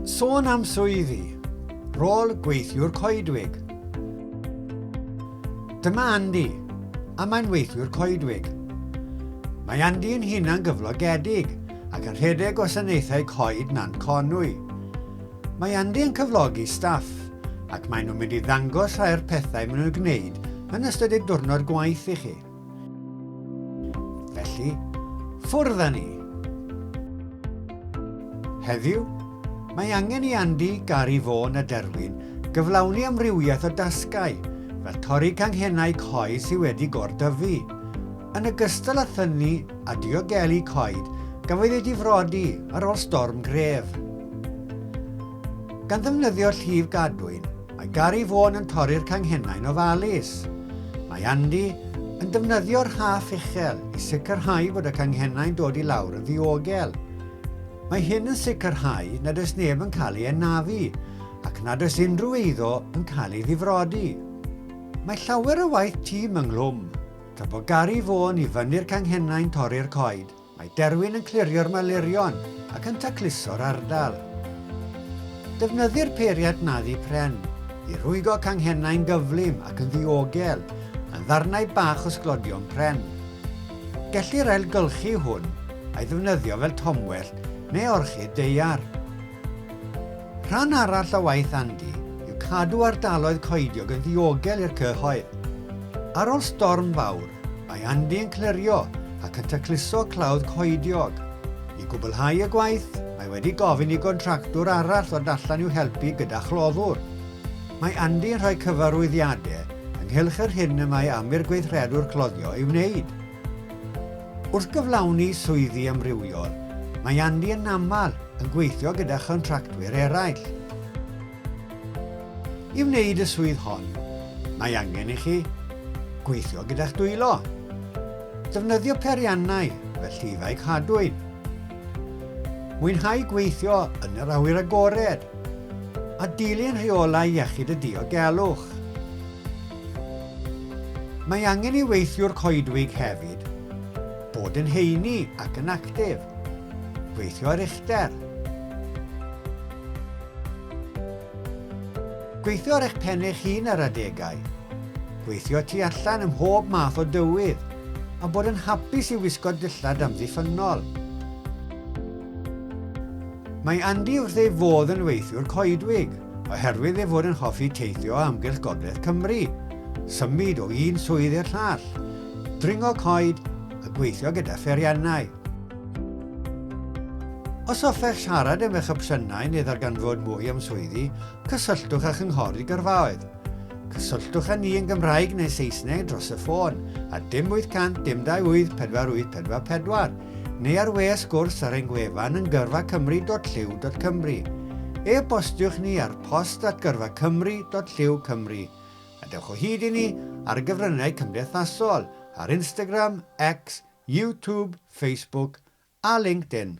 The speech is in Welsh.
Sôn am swyddi, rôl gweithiwr coedwig. Dyma Andy, a mae'n weithiwr coedwig. Mae Andy yn hunan gyflogedig ac yn rhedeg gwasanaethau coed Nant Conwy. Mae Andy yn cyflogi staff ac maen nhw'n mynd i ddangos rhai o'r pethau maen nhw'n gwneud yn ystod eu diwrnod gwaith i chi. Felly, ffwrdd â ni! Heddiw, mae angen i Andy, Gary, Vaughan a Derwin gyflawni amrywiaeth o dasgau, fel torri canghennau coed sydd wedi gor-dyfu, yn ogystal â thynnu a diogelu coed gafodd eu difrodi ar ôl storm gref. Gan ddefnyddio llif gadwyn, mae Gary Vaughan yn torri'r canghennau'n ofalus. Mae Andy yn defnyddio'r rhaff uchel i sicrhau bod y canghennau'n dod i lawr yn ddiogel. Mae hyn yn sicrhau nad oes neb yn cael ei anafu ac nad oes unrhyw eiddo yn cael ei ddifrodi. Mae llawer o waith tîm ynghlwm, tra bod Gary Vaughan i fyny'r canghennau'n torri'r coed. Mae Derwyn yn clirio'r malurion ac yn tacluso'r ardal. Defnyddir peiriad naddu pren i rwygo canghennau'n gyflym ac yn ddiogel yn ddarnau bach o sglodion pren. Gellir ailgylchu hwn a'i ddefnyddio fel tomwellt neu orchid daear. Rhan arall o waith Andy yw cadw ardaloedd coediog yn ddiogel i'r cyhoedd. Ar ôl storm fawr, Mae Andy yn clirio ac yn tacluso clawdd coediog. I gwblhau y gwaith, mae wedi gofyn i gontractwr arall ddod allan i'w helpu gyda chloddwr. Mae Andy yn rhoi cyfarwyddiadau ynghylch yr hyn y mae am i'r gweithredwr cloddio ei wneud. Wrth gyflawni swyddi amrywiol, mae Andy yn aml yn gweithio gyda chontractwyr eraill. I wneud y swydd hon, mae angen i chi gweithio gyda'ch dwylo, defnyddio periannau fel llifau cadwyn, mwynhau gweithio yn yr awyr agored, a dilyn rheolau iechyd a diogelwch. Mae angen i weithiwr coedwig hefyd bod yn heini ac yn actif, gweithio ar uchder, Gweithio ar eich pen eich hun ar adegau. Gweithio tu allan ym mhob math o dywydd, a bod yn hapus i wisgo dillad amddiffynnol. Mae Andy wrth ei fodd yn weithiwr coedwig, oherwydd ei fod yn hoffi teithio o amgylch gogledd Cymru, symud o un swydd i'r llall, dringo coed a gweithio gyda pheriannau. Os hoffech siarad am eich opsiynau neu ddarganfod mwy am swyddi, cysylltwch â Chynghori Gyrfaoedd. Cysylltwch â ni yn Gymraeg neu Saesneg dros y ffôn ar dim 800 dim 28 4844 neu ar we sgwrs ar ein gwefan yn gyrfacymru.llyw.cymru. E-bostiwch ni ar post at gyrfacymru.llyw.cymru. A dewch o hyd i ni ar y gyfryngau cymdeithasol, ar Instagram, X, YouTube, Facebook a LinkedIn.